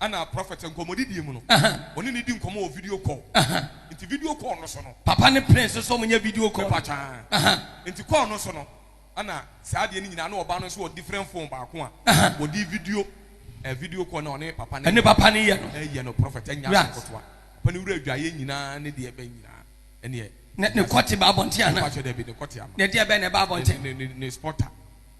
Ɛna prɔfɛt nkɔmmɔdidie mu no, wɔne no di nkɔmmɔ wɔ video call nti video call no so no. Papa ne Prince nso wɔnyɛ video call. Mepa kyɛw nti call no so no ɛna saa adeɛ no nyinaa na ɔbaa no nso wɔ different phone baako a wɔde video eh, video call na ɔne papa ne papa ne yɛ no ɛyɛ no prɔfɛt ɛnyɛ asɛm nkotoa papa ne wura adwaeɛ nyinaa ne deɛ ɛbɛn nyinaa ɛneɛ ne kɔte ba abɔnten ana mepa kyɛw dɛbi ne kɔte ama ne deɛ ɛbɛn na ɛba abɔnten ne ne ne spotter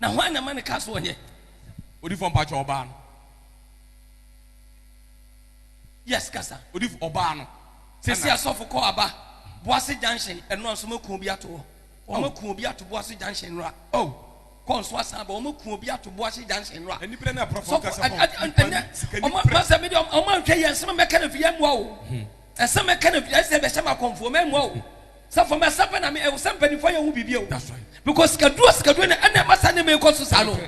Na hwan na ɛma no ka sɛ ɔnyɛ. Odifo mpakyɛ ɔbaa no. Yes kasa. Odifo ɔbaa no. Sisi asɔfo kɔ aba boase junction ɛnora nso ɔmo kun bi ato hɔ ɔmo kun obi ato boase junction ɛnora oh kɔ nso asan ba ɔmo kun obi ato boase junction ɛnora ɛnipere na ɛpɔrɔfo nkasa pɔn ɛnɛ ɔmo masɛ mi de ɔmo anhwɛ yɛ nsɛm mɛka na fi yɛ mua o nsɛm mɛka na fi ɛsɛ bɛhyɛ ma kɔnfo mɛ mua o. Sɛ for me asɛm pɛ na me ɛwɔ sɛ mpanyinfoɔ yɛ ho biribi o. That's right. Because sika duro sika duro na ɛna ɛma saa nneɛma ɛkɔ so saa no.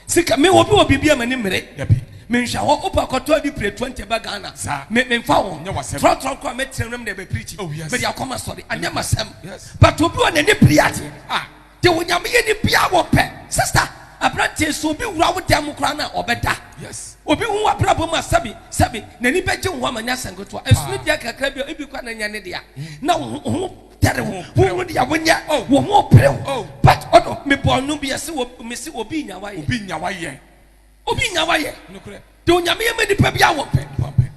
Sika me obi wɔ biribi a m'ani mmere. Dabi. Me nhwɛ hɔ wopɛ akɔtɔ adi pire twenty ba Ghana. Saa. Me me nfa ho. Nyɛ w'asɛm. Trɔ trɔ kora mɛtena wura mu na ɛbɛ preachi. Oh yes. Mede akɔ ma sɔre. Anyɛ m'asɛm. Yes. But obi wɔ n'ani biri adeɛ. Ah. De onyame yɛ ni bia wɔ pɛ. Sister abranteɛ sɛ obi wura wo dan mu koraa no a ɔbɛda. Yes. Obi hu wabrabɔ mu a sɛbi sɛbi n'ani bɛgye wo ho ama nyɛ asɛm ketewa. Ɛsono dua kakra bi a ebi koraa na nyɛ ne dea na wo ho wo ho tɛre wo. Wo hu deɛ wo nyɛ wo ho pere wo. But ɔno me bɔɔ no bi ɛse wɔ me se obi nyawa yɛ. Obi nyawa yɛ. Obi nya wa yɛ. Nokorɛ. De onyame yɛ ma nipa bia wɔ pɛ. Wɔ pɛ.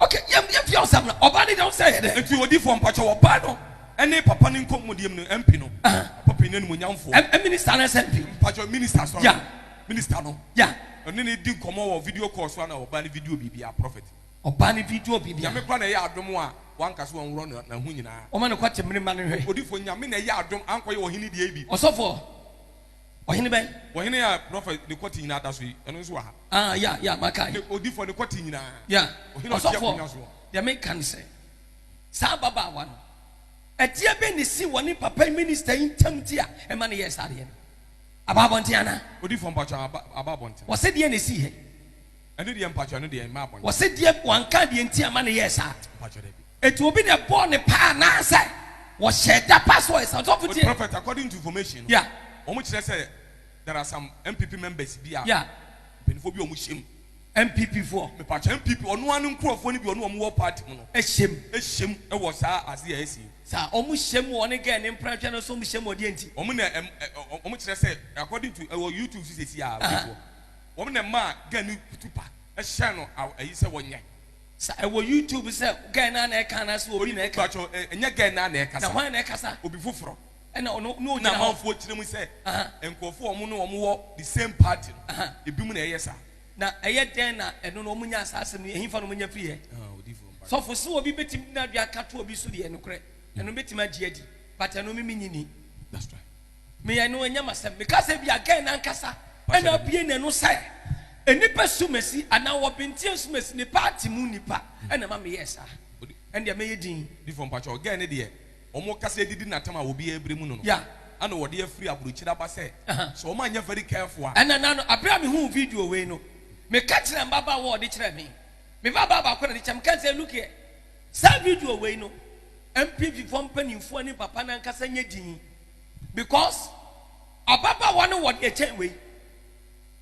Ok yɛm yɛm fia ɔsɛm no ɔbaa no deɛ ɔsɛ yɛ dɛ. Nti odifoɔ mpakyɛw ɔbaa no ɛne papa no nkɔ mudiem no MP no. Aha. Papa panyin animuonyamfoɔ. M minister no sɛ MP. Mpakyɛw minister sorry. Yeah. Minister no. Yeah. Ɔne no di nkɔmɔ wɔ video call so ana ɔbaa no video biribiaa prophet. Ɔbaa no video biribiaa. Nyame kora na ɛyɛ adom a wanka so wɔnworɔ no na ho nyinaa. Ɔma no kɔ te mene mma no hwɛ. Odifoɔ nyame na ɛyɛ adom ankɔ yɛ ɔhene deɛ bi. Ɔsɔfoɔ. Ɔhene bɛn? Ɔhene a prɔfɛt ne kɔte nyinaa da so yi, ɛno nso wɔ ha. Ah, ya, ya, makae. Ne odifoɔ ne kɔte nyinaa. Ya, Ɔhene a ɔte ɔsɔfoɔ, akonnwa soɔ. deɛ meka ne sɛ, saa ababaawa no, adeɛ bɛn na ɛsii wɔ ne papa yi, minista yi ntam nti a ɛma no yɛɛ saa adeɛ no? Aba abɔnten anaa? Odifoɔ, mpakyɛ, aba, aba abɔnten. Wɔse deɛn na ɛsii hɛ? Ɛno deɛ mpakyɛ ɛno deɛ mmaa bɔne. Wɔse deɛ wanka deɛ nti ama no yɛɛ saa. Mpakyɛ dabi. Eti obi na ɛbɔɔ ne paa anaasɛ wɔhyɛɛ da pa so ɔyɛ saa? Ɔsɔfo tie. Prophet according to information no Yeah. wɔn kyerɛ sɛ there are some NPP members bi a Yeah. mpanyinfoɔ bi a wɔn hyɛm. NPP foɔ. Mepakyɛ NPP ɔno ara ne nkorɔfoɔ no bi ɔne wɔn wɔ party mu no Ɛhyɛm. hyɛm wɔ saa adeɛ a ɛsi yi. Saa wɔn hyɛm wɔ ɔne girl ne mprɛnhwɛ no so wɔn hyɛm wɔ deɛ nti? Wɔn na ɛm ɛ ɔ wɔn kyerɛ sɛ according to ɛwɔ YouTube so sɛsi a Aha. ɔbɛfoɔ. wɔn na ɛmaa guy no kutu pa hyɛɛ no aw ayi sɛ wɔnyɛ. Sa ɛwɔ YouTube sɛ guy no ara na ɛka anaase obi na ɛka. Mpakyɛw ɛ ɛnyɛ guy no ara na ɛkasa. Na hwan na ɛkasa? Obi foforɔ. Ɛna ɔno na ogyina hɔ. Ɛna amanfoɔ kyerɛ mu sɛ nkurɔfoɔ a wɔn ne wɔn wɔ the same party no, ebinom na ɛyɛ saa. Na ɛyɛ dɛn na ɛno no wɔn nyaa saa asɛm no, ɛhefa na wɔn nya firiiɛ? Ah odiyifoɔ mpakyɛw. Sɔfo, sɛ obi bɛtumi de n'adwene aka to obi so deɛ, nokorɛ, ɛno mɛtumi agye adi, but ɛno me mennye nni. That's right. Me anuonyam asɛm. Meka sɛ ebia Gen ankasa na abue n'ano sɛ nnipa sumasi anaa wɔbenteɛ nsumasi, ne party mu nnipa na ɛma meyɛɛ saa. Ɛndeɛ mɛyɛ din. Difoɔ mpakyɛw, Gen no deɛ wɔn kasa adidi no atam a obiara brɛ mu no no, Yeah. ɛna wɔde afiri abrokyire aba sɛ Aha. sɛ wɔn anyɛ very careful a. Ɛna na no, aberɛ a mehuu video wei no, meka kyerɛɛ m'babaa wɔ ɔde kyerɛɛ me. Me babaa baako na ɔde kyerɛɛ me, meka sɛ look here, saa video wei no, NPP foɔ mpaninfoɔ ne papa no ankasa nyɛ din. because ababaawa no wɔ deɛ ɛkyɛn wei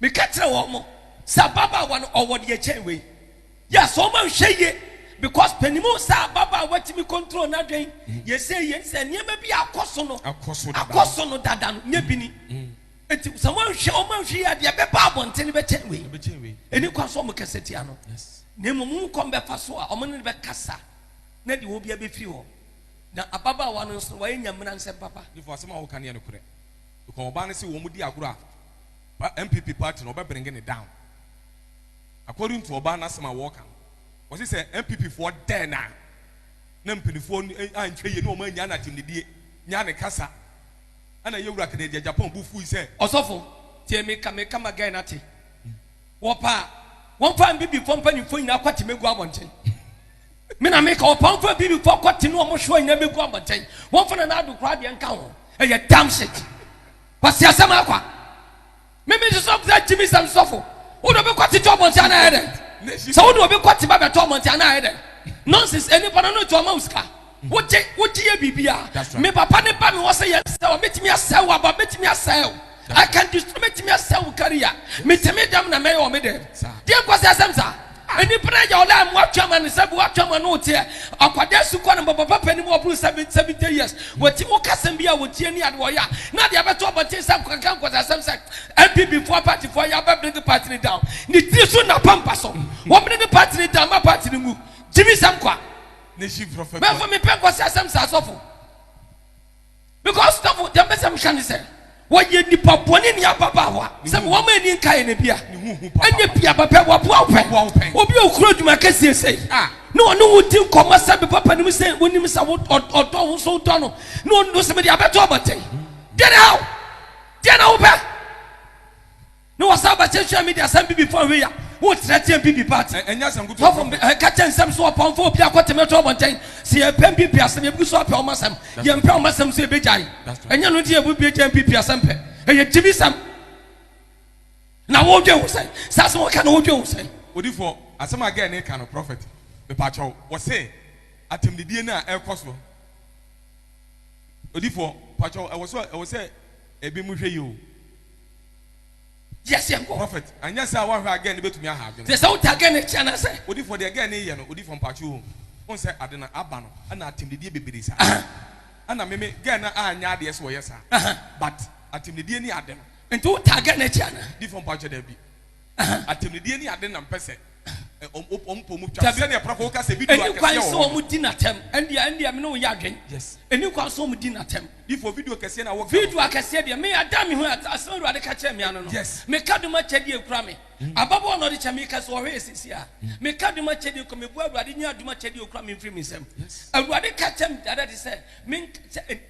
meka kyerɛ wɔn mo sɛ ababaawa no ɔwɔ deɛ ɛkyɛn wei yes wɔn anhwɛ yie because panimu sɛ ababaawa tumi control n'adwene yɛsɛ yie sɛ nneɛma bi akɔ so no akɔ so dada akɔ so no dada no nyɛ bi ni nti sɛ wɔn anhwɛ wɔn anhwɛ yie adeɛ bɛba abɔnten no bɛkyɛn wei ɛbɛkyɛn wei ɛni kwan so wɔn kɛse tia no yes na mmom wɔn kɔn bɛfa so a wɔn ne no bɛkasa na deɛ wɔn bi abɛfiri hɔ. Na ababaawa no nso, wayɛ Nyamena nsɛm papa. Nifo asɛm a woka no yɛ nokorɛ because ɔbaa no se wɔn di agorɔ a pa NPP party no ɔbɛ bringe no down according to ɔbaa no asɛm a wɔɔka no ɔse sɛ NPP foɔ dɛɛ no a na mpanifoɔ anhwɛ yie na wɔn anyaa no atemnidie nyaa ne kasa ɛna yɛwura kɛdɛ gya Japan bo fui sɛ Ɔsɔfo, tie me ka me ka ma guy no ate. Wɔpɛ a, wɔmfa Npp foɔ mpanyimfoɔ nyinaa kɔ atemɛ gu abɔnten. Me na meka, ɔpamfo a Bibifo akɔte ne wɔn soa nyinaa begu abɔnten. Wɔmfa Nana Addo koraa deɛ nka ho. Ɛyɛ damn shit. Kwasi asɛm akwa. Me me nso sɔfo sɛ Jimmy sɛm sɔfo. Wode obi kɔte to abɔnten anaa ɛyɛ dɛn? Sɛ wode obi kɔte ba bɛto abɔnten anaa ɛyɛ dɛn? Nonsense, ɛnipa no no nti ɔma wo sika. wogye wogye yɛ biribi a me papa ne ba me wɔ sɛ yɛsɛ wɔ mɛtumi asɛ wo aba mɛtumi asɛ wo I can destroy mɛtumi asɛ wo career metumi dɛm na mɛyɛ wɔ me dɛm deɛ nkɔ sɛ asɛm saa nnipa no agya ɔla mu atwa ma no sɛ bi watwa ma no teɛ akwadaa su kɔ no bɔbɔ papa nim ɔboro seven seventy years wɔti wo kasɛm bi a wɔtie ni ade wɔyɛ a na deɛ bɛtɔ ɔbɔnten sɛ nkɔkɛkɛ nkɔ sɛ asɛm sɛ MPP foɔ party foɔ yɛ abɛ bring party no down ne tiri so na pampa so wɔn bring party no down ma party no mu gyimi sɛm kwa Mɛfo mepɛ nkɔsɛ asɛm saa sɔfo. Because sɔfo deɛ mpɛ sɛ meka ne sɛ wɔyɛ nipa bɔne ne ababaawa sɛ me wɔn ani nka yɛ na bia ɛnyɛ bia bɛpɛ wɔboa wo pɛ obi a okuro adwuma kɛseɛ sɛ ah. na ɔne wo di nkɔmmɔ sɛ me papa nim sɛ wonim sɛ ɔdɔ wo so wodɔ no na ɔno sɛ mede abɛto abɔten deɛ na how deɛ na wopɛ Ne wɔ saa bɛkyɛ hwɛ mi deɛ sɛm bibi fɔ hwe ya wo kyerɛ teɛ bibi ba te ɛnyɛ sɛm kutu fɔfɔ bi ɛka kyɛ nsɛm so wɔ pɔn fɔ obi akɔ tɛmɛ tɔ wɔn kyɛn si yɛ pɛm bibi asɛm yɛ bi so apɛ wɔn asɛm yɛ mpɛ wɔn asɛm so yɛ bɛ gya yi ɛnyɛ no ti yɛ bu bi gya bibi asɛm pɛ ɛyɛ gyimi sɛm na wɔn dwe ho sɛn saa sɛm wɔka na wɔn dwe ho sɛn. Odifo asɛm a gɛɛ ne ka no prɔfɛt mepakyɛw wɔse atɛmdidie no a ɛkɔ so odifo pakyɛw ɛwɔ so ɛwɔ sɛ ebi mu hwɛ yi o. Gye aseɛ nkɔ. Prophet, anyɛ saa a woanhwɛ a girl no bɛtumi aha adwene. Te sɛ wota girl no akyi anaasɛ? Odifoɔ deɛ girl no reyɛ no odifoɔ mpaakyew o wohu sɛ ade no aba no ɛna atemdidie bebree saa ɛna me me girl no anyɛ adeɛ sɛ ɔyɛ saa but atemdidie ne ade no. Nti wotaa girl no akyi anaa? Difoɔ mpaakyew daabi. atɛmnidie ne ade nam pɛ sɛ wɔn pɔ mu twa no, sɛdeɛ prɔfo ka sɛ bi duo akɛseɛ wɔ hɔ no. Ɛnni kwan sɛ wɔdi no atɛm. Ɛndeɛ, ɛndeɛ me ne wo nyɛ adwene. Yes. Ɛnni kwan sɛ wɔdi no atɛm. Difoɔ, video kɛseɛ na woka no. Video akɛseɛ deɛ, me ada me hu asɛm a Awurade ka kyerɛɛ me ano no. Yes. Meka dom akyɛdeɛ ekura me. Ababaawa na ɔde kyɛ me, meka sɛ ɔhwɛ yɛ seesei a. Meka dom akyɛdeɛ kura me, meboa Awurade nyi adom akyɛdeɛ a okura me mfiri me nsam. Yes. Awurade ka kyerɛ me dada de sɛ, menka sɛ.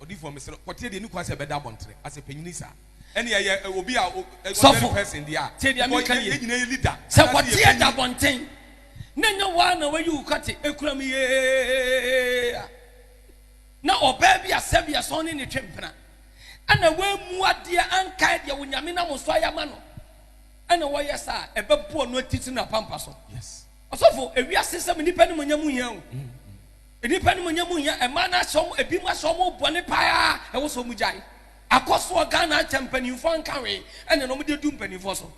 Ɔdifo a mesrɛ wo kɔteɛ deɛ ɛni kwan sɛ ɛbɛda abɔntere asɛ panyini saa ɛne ɛyɛ obi a ordinary person deɛ a because yɛn nyinaa yɛ leader sɛ kɔteɛ da abɔnten na ɛnyɛ wo ara na wayi wo kɔte ɛkura mu yeeaa na ɔbaa bi a sɛbea sɛ ɔne ne twe mpena ɛna wammu adeɛ ankae deɛ Onyame nam so ayɛ ama no ɛna wɔyɛ saa ɛbɛboɔ no atitiri no apampa so ɔsɔfo ewiase sɛm nnipa ne mu nya mu hia o mm. Nnipa animuonyam mu hia mmaa no asɛ wɔn ebinom asɛ wɔn ho bɔne paa ɛwɔ sɛ wɔn gyae. Akɔsoɔ Ghana akyɛ mpanimfoɔ anka hwee ɛne na wɔn de du mpanimfoɔ so.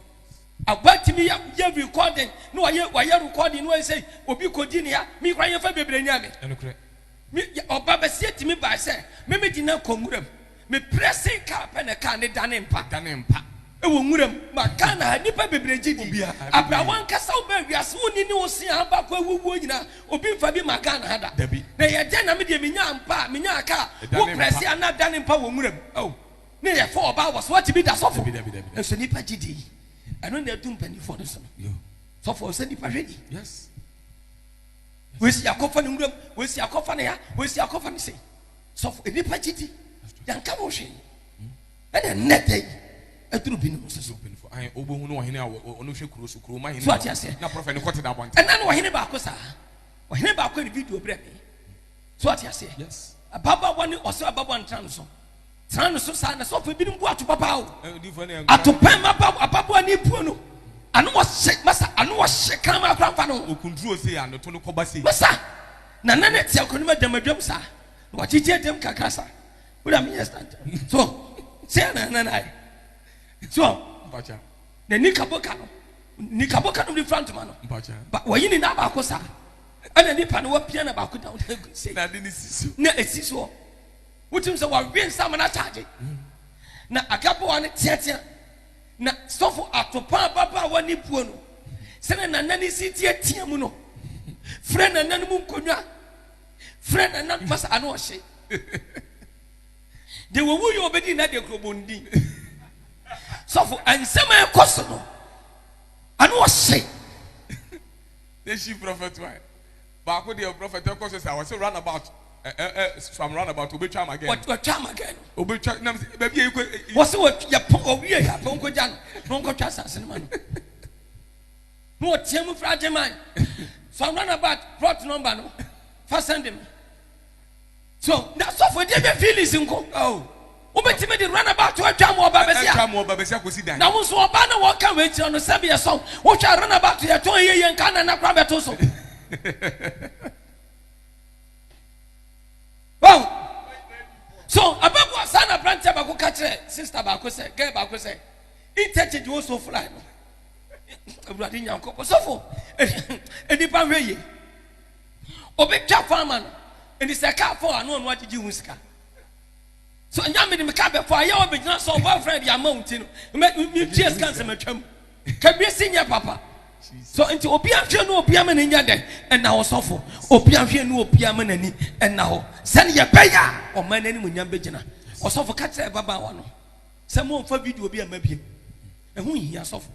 Aba tumi yɛ yɛ recording na wɔyɛ wɔyɛ recording na wɔyɛ sɛ obi kɔdi ne ya me kora yɛn fɛ bebree nya me. Ɛnokorɛ. Me ɔba bɛseɛ tumi baa sɛ me me di na kɔ nwura mu. Me pressing car pɛ na car no dane mpa. Dane mpa. Wɔ nwura mu. Ma Ghana ha nnipa bebree gye di. Abrɛ w'ankasa wo bɛn wiase wo nini wo se a abakɔ awu wuo nyinaa obi nfa bi ma Ghana ha da. Dabi. Na yɛ dɛn na me deɛ me nyaa mpa a me nyaa car a wo press a na dane mpa wɔ nwura mu oh ne yɛ four ɔbaa wɔ so wate bi da sɔfo nso nnipa gye di yi ɛno na adu mpaninfoɔ no so no sɔfo ɔnsɛ nnipa hwɛ ni wei se yɛakɔ fa no nwura mu wei se yɛakɔ fa no ha wei se yɛakɔ fa no sei. sɔfo nnipa gyidi yɛnka ho hwee ɛna nnɛ da yi aduru binom nso so wobɛhu no ɔhene a ɔno hwɛ kuro so kuro ma hene so ate aseɛ na prɔfɛ ne kɔte da abɔnten ɛna no ɔhene baako saa ɔhene baako ne video berɛ me so ate aseɛ yes ababaawa ne ɔsɛ ababaawa no tena no so tena no so saa na sɔfo ebinom bu ato papa o ato pɛn ma ababaawa ne buo no ano ɔhyɛ masa ano ɔhyɛ kan ma akora nfa no okunduro se anoto no kɔba se masa Na na ne tia kɔnim adam adwam saa. Na wakyekye adam kakra saa. Wura mi yɛ stand. So sɛ na na na yɛ. So mpacha. Na nika boka no. Nika boka no de fura ntoma no. Mpacha. Ba wɔyi ne nan baako saa. Ɛna nipa no wapia na baako down. Na de ne si so. Na esi so. Wotim sɛ wawe nsa ma na charge. Na agaboa no teatea. Na sɔfo Atopa ababaawa ne buo no sɛnea nana no si teatea mu no frɛ nana no mu nkonnwa frɛ nana no masa ano ɔhye de wɔwu yɛ ɔbɛdi nna de kurobɔndi sɔfo nsɛm a ɛkɔ so no ano ɔhye. They she prophet why? Baako deɛ prɔfɛt ɛkɔ so saa ɔsɛ run about ɛ ɛ ɛ from run about obetwa ama gɛɛ no. Watwa ama gɛɛ no. Obetwa nam sɛ baabi yɛ ekɔ. Wɔsɛ wɔ yɛ pɔn owie yɛ apɔn ko gya no na ɔnkɔ twa asase no ma no. Na ɔteɛ mu fira agye man from run about plot number no fa sɛnde mi. So na sɔfo de nya feelings nko? Oh. Wobɛtumi de runabout atwam wɔ ɔba bɛsia. Atwam wɔ ɔba bɛsia kɔsi dan. Na wo nso ɔbaa na wɔka wei kyerɛ no sɛ meɛ sɔn. Wohwɛ a runabout yɛtɔn ɛyɛ yie nka nana kora bɛto so. Wow. So abɛboa saa na aberanteɛ baako ka kyerɛ sister baako sɛ gɛɛ baako sɛ interchange wɔ so fly no. Awurade Nyankopɔn sɔfo nnipa hwɛ yie. Obi twa kwan ma no, nti sɛ kaa fɔ a, na ɔno agyegye ho sika. So nya me de me kaa bɛfɔ a, yɛ ɔbɛgyina so ɔbɔ afra bi ama wo nti no, metua sika nsɛm atwa mu. Kabie si nyɛ papa. So nti obi ahwɛ no obi ama n'ani adɛ ɛna hɔ sɔfo. Obi ahwɛ no obi ama n'ani ɛna hɔ. Sɛne yɛbɛyɛ a ɔman no animuonyam bɛgyina. Ɔsɔfo ka kyerɛ ababaawa no sɛ momfa video bi amma biem. Ɛho nhia sɔfo.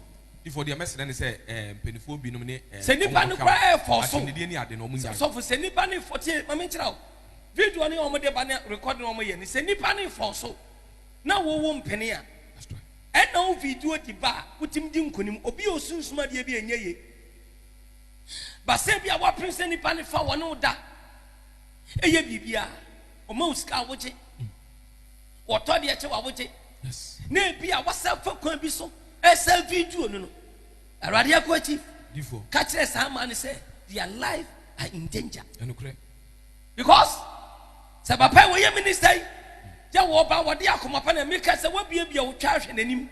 Difo deɛ mɛsrɛ no sɛ eh mpanifoɔ binom ne eh Sɛ nipa no koraa yɛ fɔɔ so. Asɛmdidie ne ade no ɔmo nyae. Sɔfo sɛ nipa no fɔ tie ma me nkyerɛ wo video no yɛ ɔmo de ba ne record no ɔmo yɛ no sɛ nipa no fɔɔ so na wo wo mpene a ɛna wo video di ba a wotumi di nkonim obi a osunsum adeɛ bi a ɛnyɛ ye ba sɛ bi a wapene sɛ nipa no fa wɔne wo da ɛyɛ biribi a ɔma wo sika a wogye. Wɔtɔ deɛ kyɛ wawogye. Na ebi a wasa fa kwan bi so ɛsa video no no. Awurade akoa chief. Difoɔ. Ka kyerɛ saa man no sɛ their life are in danger. Ɛnokorɛ. Because sɛ papa yi wɔyɛ minister yi yɛ wɔba wɔde akoma pa na meka sɛ wabiabia wo twa ahwɛ n'anim.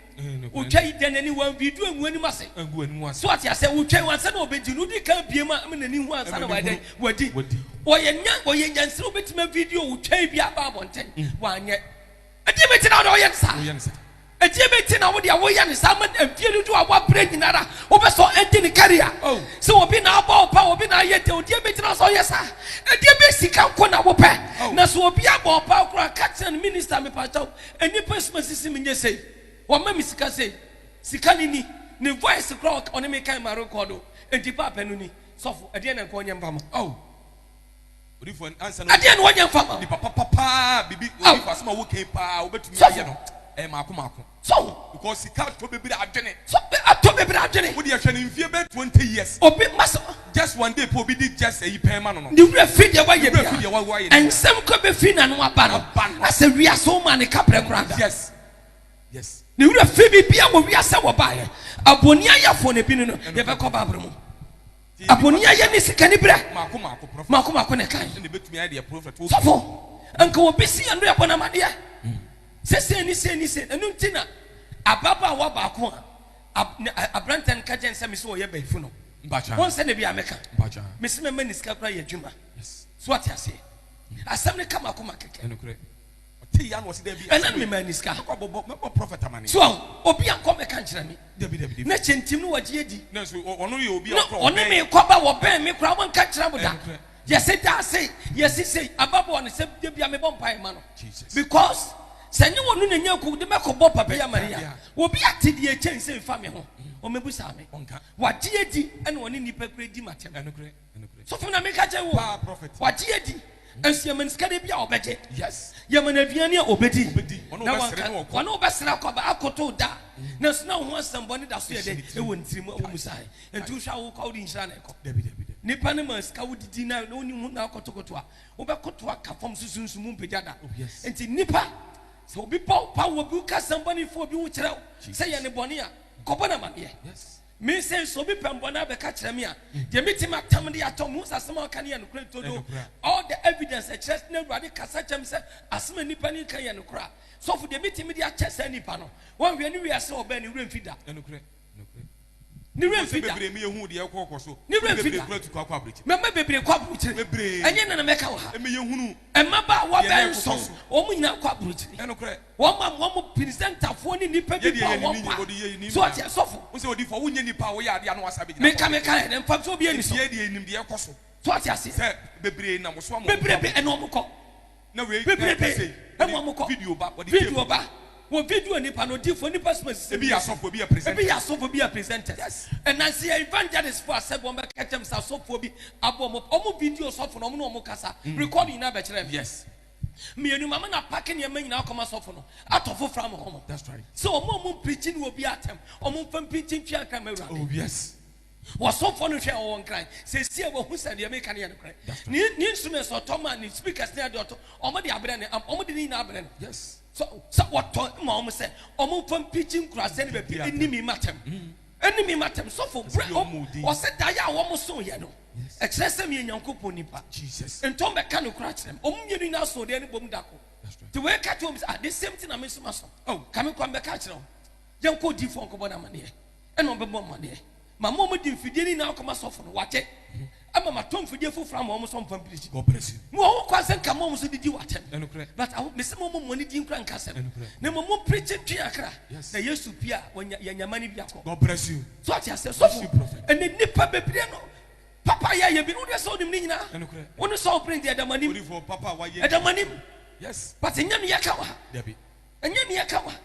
Otwa yi dɛn ani? Wanwie du angu anim ase. Angu anim ase. So ate asɛ? Otwa yi ansa na ɔbɛdi no, odi kan abue mu a ama n'ani hu ansa na wayɛ dɛn? Wadi. Wadi. Ɔyɛ nya, ɔyɛ nyansini a ɔbɛtumi avideo otwa yi bi aba abɔnten. Wanyɛ. Ɛdeɛn bɛti na wode woyɛ no saa? Woyɛ no saa. Ɛdeɛn bɛti na wodeɛ woyɛ no saa ma mfie dodoɔ a woabrɛ nyina ara wopɛ sɛ ɔɛnde ne career? Oh. Sɛ obi na abɔ wo paa, obi na ayɛ dɛn, odeɛn bɛti na sɛ ɔyɛ saa? Ɛdeɛn bɛ sika nko na wopɛ? Oh. Na sɛ obi abɔ wo paa koraa, ka kyerɛ no, Minister, mepakyɛw, Nnipa suma sisi me nyɛ sei, wɔma me sika sei, sika no ni, ne voice koraa ɔka ɔne me kan ma rekɔɔdo, enti paapɛ no ni, sɔfo ɛdeɛn na nka ɔnyɛ mfa ma wo? Ɛdeɛn na ɔnyɛ mfa ma wo? Sɔfo, atɔ bebree adwene. Obi, masɛm. Just one day pɛ obi di just ɛyi pɛn ma no no. Ne werɛ fi deɛ wayɛ biara. Nsɛm kura bɛfiri n'ano aba no, na sɛ wiase wo maa no kaberɛ koraa da. Yes yes. Ne werɛ fi biribiara wɔ wiase a wɔbaeɛ. Abɔni ayɛfoɔ no ebi no no yɛbɛkɔ bible mu. Abɔni ayɛ ne sikani berɛ. Maako maako prophet. Maako maako ne kan. Ɛna ebetumi ayɛ deɛ prophet wɔ. Sɔfo nka obi si yɛn do yɛbɔ n'amadeɛ sɛ sɛ ni sɛ ni sɛ ɛnu nti na ababaawa baako a. Ab ne a abranteɛ no ka gyɛn sɛ me se ɔyɛ bayifo no Mpakyɛ wohu sɛdeɛ bia meka Mpakyɛ me se mɛma ni sika koraa yɛ adwuma yes so wate aseɛ mm. asɛm no ka makoma kɛkɛ ɛnokorɛ ɔte ya na ɔse daabi ɛna no mema ni sika mɛkɔ bɔbɔ mɛbɔ prophet amane so obi ankɔ mɛka nkyerɛ me dabi dabi dabi na kyɛ ntim no wagye adi na so ɔno yɛ obi a ɔkɔ ɔne me kɔba wɔbɛn me koraa wɔnka nkyerɛ mo da ɛnokorɛ Yɛse daa se yɛasi sei ababɔɔ no sɛ dabia mebɔ mpaeɛ ma no because sɛ nyɛ wɔno na ɛnya kuw de mɛkɔbɔ papa yi amane a obi ate deɛ ɛkyɛn sei fa me ho ɔmmɛbusaa me wagye adi ɛna ɔne nnipa kura di matɛm sɔfo na meka kyɛ wo wagye adi nso yɛma no sika de bi a ɔbɛgye yɛma no aduane a ɔbɛdi na wanka ɔne wobɛsra kɔba akoto da nanso na wo ho asɛmbɔ ne da so yɛ dɛ ɛwɔ ne tirim ɛwɔ mu sae Enti wohwɛ a wokɔ a wode nhyira na ɛkɔ? Dabi, dabi, dabi. Nipa no ma sika wodidi na na wonni ho na akotokoto a, wobɛkoto aka fam so sunsum mpagya da. Oh, yes. Enti nipa, sɛ obi bɔ wo paa, obi ka asɛm bɔne fa obi ho kyerɛ wo Jesus. sɛ yɛ ne bɔne a, kɔbɔ no amanneɛ. Yes. Me sɛ sɛ obi pɛ mbɔne abɛka kyerɛ me a, deɛ mɛtumi matam de atɔ, mehu sɛ asɛm a ɔka no yɛ nokorɛ nti, although Ɛnokorɛ. all the evidence ɛkyerɛ sɛ na Awurade kasa kyerɛ me sɛ asɛm a nipa no ka yɛ nokorɛ a, sɔfo deɛ mɛtumi de akyɛ saa nipa no, woanhwɛ ne wiase a ɔbɛɛ no, ne werɛ mfi da. Ɛnokorɛ. Ne werɛ mfi da. Ne werɛ mfi da. Mɛma bebree akɔ aburokyire. Ɛnyɛ nnɛ na mɛka wɔ ha. Mmabaawa bɛyɛ nson, wɔn nyinaa akɔ aburokyire. Wɔn a wɔn pirisɛntafoɔ ne nnipa bi bɔɔ wɔn paa. So ɔte asɔfo. Meka meka yɛ dɛ mfa nso obi ani so. So ɔte aseɛ. Bebrebe ɛna wɔn kɔ. bebrebe wɔ wɔn kɔ video ba wɔ video nipa no odiifo nipa suma sisi ebi yɛ asɔfo ebi yɛ presenters ebi yɛ asɔfo ebi yɛ presenters ɛnansi yɛ evangelist fo asɛ wɔn bɛ kɛkyɛ mu sɛ asɔfo bi abɔ wɔn wɔn video sɔfo na wɔn na wɔn kasa mm. record nyinaa bɛ kyerɛ mi yes mmienu maame na paaki nneɛma nyinaa akɔma sɔfo no atɔ fo fram wɔn sɛ wɔn a wɔn mpirikyi ne obi atɛm wɔn mfa mpirikyi ntwi ankara mɛ wura oh yes. Wɔsomfoɔ no hwɛɛ wɔn nkran. Seesei a wɔahu sɛ deɛ mereka no yɛ nokorɛ, ne ne instruments a ɔtɔ maa ne speakers ne adeɛ a ɔtɔ, wɔde abrɛ no, ampa, wɔde ne nyinaa abrɛ no, sɛ, sɛ wɔtɔ ma wɔn sɛ wɔmfa mpikyi nkuraase ne baabi nni me mmatam, nni me mmatam. Sɔfo, berɛ a wɔn, wɔse daeɛ a wɔsoeɛ no, ɛkyerɛ sɛ meyɛ Nyankopɔn nipa. Enti wɔmmɛka nokorɛ akyerɛ me. Wɔn mmienu nyinaa soo deɛ no bom da koro. Nti wei ka kyerɛ wɔn sɛ, ah, the same thing na me nso maso. Oh, ka me kɔ, mɛka akyerɛ wo. Yɛnkɔ odiyifoɔ nkɔbɔ no amanneɛ. Ɛna ɔbɛbɔ amanneɛ ma mo a mode mfidie no nyinaa kɔma sɔfo no, wate, ama matɔ mfidie foforɔ ama wɔn sɛ wɔmfa mpam pirikyi. Mowɔ ho kwan sɛ nka mo a wɔn so didi wɔ atɛm, but aho, mese mommɔ mo ani din nkura nka asɛm, na mmom mompirikyi ntwe akra, na Yesu pue a, wɔanya, yɛanya amanneɛ bi akɔ. So wate aseɛ? Sɔfo, ɛnɛ nnipa bebree no, papa yɛ ayɛ bi no, wodeɛ sɛ wonim ne nyinaa, wo ne Saul prince deɛ ɛda mo anim, ɛda mo anim, but ɛnyɛ ne yɛka wɔ ha, ɛnyɛ ne yɛka wɔ ha.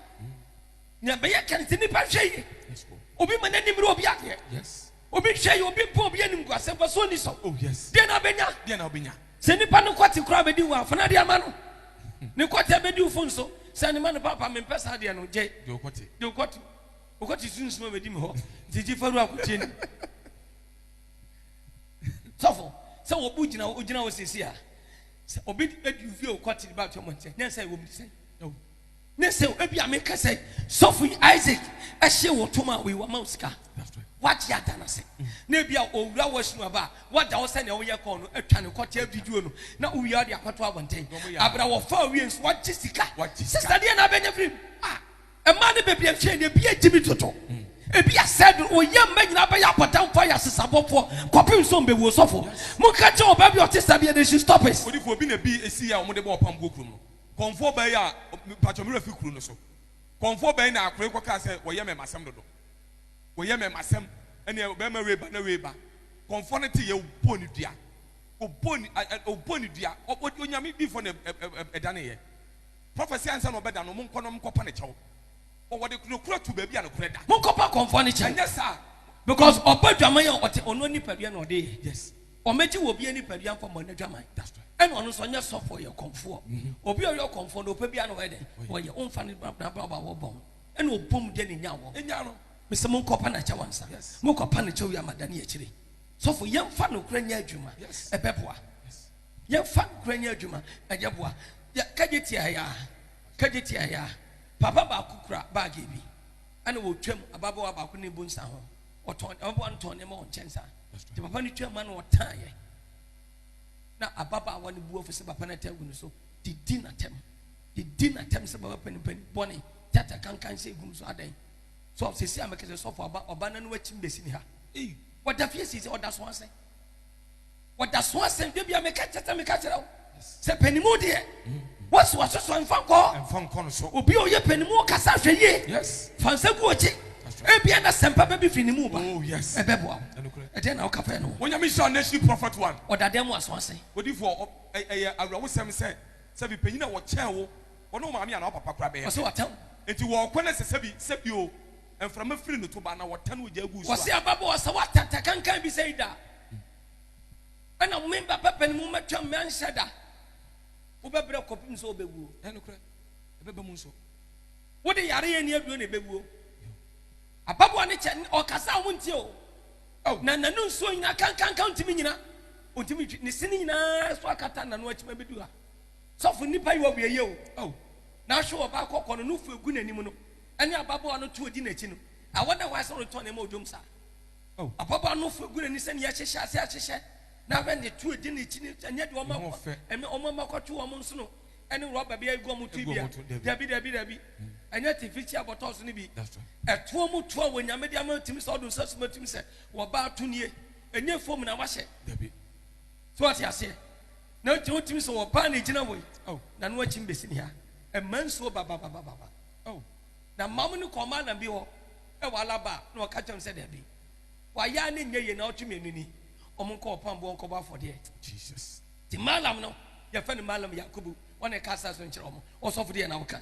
Nea ɛbɛyɛ ka no sɛ nnipa nhwɛ yie. Obi ma n'anim yɛ obi adeɛ. Obi nhwɛ yie, obi mpo obi animguase, mfasoɔ nni so. Oh, deɛ na ɔbɛnya. Sɛ nnipa no kɔte koraa bɛdi wo afo na deɛ ama no. Ne kɔte bɛdi wo fo nso. Sɛ ne ma no papa mempɛ saa deɛ no gye. Deɛ ɔkɔte. Deɛ ɔkɔte. Ɔkɔte sunsum a bɛdi me hɔ. Nti gye faru akotie ni. Sɔfo, sɛ wɔbu gyina hɔ, ogyina hɔ sɛsi a. Sɛ obi adi ofie ɔkɔte ba atwa mɔnkyɛ, ne nsa ɛwɔ mu sɛn. Ne se ebi a meka sɛ sɔfo yi Isaac ɛhyɛ wɔ tom a wei wama wo sika wagye ada no ase na ebi a owura wɔ sinu aba wagya wo sɛnea woyɛ kɔɔ no atwa ne kɔkyɛ video no na wowie ɔde akɔto abɔnten abra wɔfa owie nso wagye sika sista deɛ na abɛnya firi mu a ɛmaa ne baabi ɛnhwɛ ne ebi agye mi toto ebi asɛ do oyɛ mma nyinaa bɛyɛ abɔdamfoɔ yɛ asesabɔfoɔ kɔpem nso mbɛwuo sɔfo mo nka kyɛ ɔbaa bi ɔte saa bi ɛdɛ she stop it. Odifo obi na bi esi yɛ a wɔn de bɔ ɔpam guo kurom no. Kɔmfoɔ bɛn a, mpakyɛw me werɛ fi kuro no so, kɔmfoɔ bɛn na akora yi kɔkaa sɛ wɔyɛ mɛmasɛm dodo, wɔyɛ mɛmasɛm, ɛneɛ ɔbɛrima wei ba na wei ba, kɔmfoɔ no teeɛ ɔbɔɔ no dua, ɔbɔɔ no ɛ ɛ ɔbɔɔ no dua, ɔ ɔ onyame diifoɔ na ɛ ɛ ɛdaneeɛ, prophecy ansa na ɔbɛda no, monkɔ na monkɔpa no kyɛw, ɔ wɔde nokorɛ ato baabi a nokorɛ da. Monkɔpa kɔmfoɔ no kyɛw, ɛnyɛ saa, because ɔbɔ dwaman a ɔte ɔno nipadua na ɔde yɛ. Yes. Wɔmɛgye wɔ obia nipadua nkɔ mmɔ nadwaman ɛna ɔno nso ɔnyɛ sɔfo ɔyɛ ɔkɔmfoɔ obia ɔyɛ ɔkɔmfoɔ no ɔpɛ bia na ɔyɛ dɛn ɔyɛ ɔmfa no brabra ba wɔ bɔn ɛna ɔbom deɛ ne nya wɔ nya no mesɛ monkɔ pa nakyɛw ansa mokɔ pa nakyɛw wie ama dane akyire sɔfo yɛmfa nokora nyɛ adwuma ɛbɛboa yɛmfa nokora nyɛ adwuma ɛyɛ boa kagye tia ya kagye tia ya papa baako kura baage bi ɛna wɔtwam ababawa baako ne bu nsa ho Ɔtɔn ɔboa no tɔn nneɛma wɔ nkyɛn saa. Nti papa no twaa mu na ɔtaeɛ. Na ababaawa no bu afu sɛ papa no ata agu no so. Didi n'atɛm. Didi n'atɛm sɛ baba panipani bɔne. Tata kankan sɛ egum so adɛn. So sisi a mekɛsɛ sɔfo aba ɔba na no akyim bɛsi ne ha. Wɔda fie sisi ɔda so ase. Wɔda so asɛn dwa bia meka kyɛ sɛ meka kyerɛ wo sɛ panimu deɛ wɔso asosɔ mfa nkɔ mfa nkɔ no so obi a ɔyɛ panimu ɔkasa hwɛ yie yes fa nsa gu ɔkyi ebia na sɛmpa bɛbi fi ne mu ba oh yes ɛbɛboa wo ɛdeɛ na woka fɛ no onyame hyɛ nation prophet one ɔdadɛ mu aso ase odifoɔ ɛyɛ awerɛhosɛm sɛ sɛ bi panyin a wɔkyɛn wo wɔne wo maame anaa papa kora bɛyɛ ɔsɛ wɔtɛn nti wɔkɔ ne sɛ sɛbi sɛbi o mframa firi no to ba na wɔtɛn wɔ gya agu so a wɔsɛ ababɔ ɔsɛ wɔatɛntɛ kankan bi sɛ ida ɛna mo mba pɛpɛ no mu mɛtwa mmɛ nhyɛ da wobɛbrɛ kɔpem sɛ wobɛwuo ɛnokorɛ ɛbɛba mu nso wode yare yɛ ni aduro na ɛbɛwuo ababoa ne kyɛ ɔkasa a wontie o oh. na nanu nsuo nyina kankanka ntumi nyina ɔntumi twi ne se no nyinaa so akata nano akyima bɛdu ha sɔfo nnipa yi wɔwieyɛ o oh. na ahwe wɔ baakɔkɔ no no fu egu n'anim no ɛne ababoa no to ɔdi n'akyi no awɔ na wɔasɛ no tɔ ne ma odwom saa Oh. Ababaa no fo egu n'ani sɛ nea ɛhyehyɛ ase ahyehyɛ n'ahwɛ ne tu edi n'akyi ne ɛnyɛ deɛ wɔn akɔ ɛne wɔn ama kɔto wɔn nsono ɛne rɔba bi agu wɔn ti bia dabi dabi dabi ɛnyɛ tifikyi abɔtɔ so no bi ɛtoɔ mu toɔ wɔ nyame de ama tumi sɛ ɔdo nsa suma tumi sɛ wɔbaa to nie ɛnyɛ fom na wahyɛ dabi so ɔte aseɛ na nti wotumi sɛ wɔbaa na egyina wɔ yi na no akyi mbesi ne ha ɛma nsuo bababababa. Na mma mo no kɔɔ malam bi hɔ wɔ Alaba a, na ɔka kyerɛɛ no sɛ, Dabi, w'ayɛ ara no nyɛ yie na ɔtwe me ani ni, wɔn nkɔ ɔpam boɔ nkɔbɔ afɔdeɛ. Jesus. Nti malam no, yɛfrɛ no malam Yakubu, ɔna ɛka asaase no nkyerɛ wɔn, ɔsɔfodeɛ na ɔka.